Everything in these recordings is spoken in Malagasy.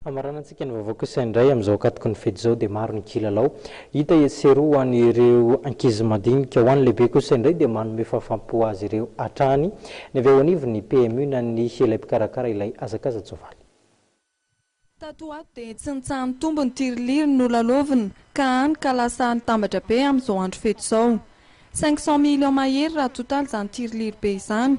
Hamaranantsika ny vaovao kosa indray amin'izao ankatoky ny fety izao dia maro ny kilalao hita etsy sy eroa ho an'ireo ankizy madinika. Ho an'ny lehibe kosa indray dia manome fahafaham-po azy ireo hatrany ny avy ao anivon'ny PMU na ny ilay mpikarakara ilay hazakaza-tsoavaly. Tato ho ato dia tsy nitsaha-nitombo ny tiriliry nolalaovina ka hany ka lasa nitambatra be amin'izao andro fety izao. Cinq cent millions mahery raha total izany tiriliry be izany.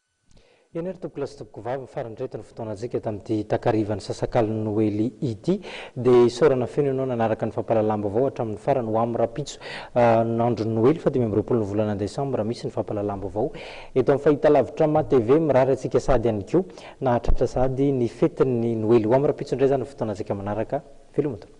Eny ary tompokolahy sy tompokovavy, mifaran-dreto ny fotoanantsika tamin'ity takarivan'ny sasakalin'ny Noely ity. Dia isaorana feno ianao nanaraka ny fampahalalam-baovao hatramin'ny farany. Ho amin'ny rahampitso no andron'ny Noely, faha dimy amby roapolo ny volana desambra, misy ny fampahalalam-baovao eto amin'ny fahitalavitra MATV. Mirary antsika sahady ihany koa nahatratra sahady ny fetin'ny Noely. Ho amin'ny rahampitso indray izany ny fotoanantsika manaraka. Veloma tompoko.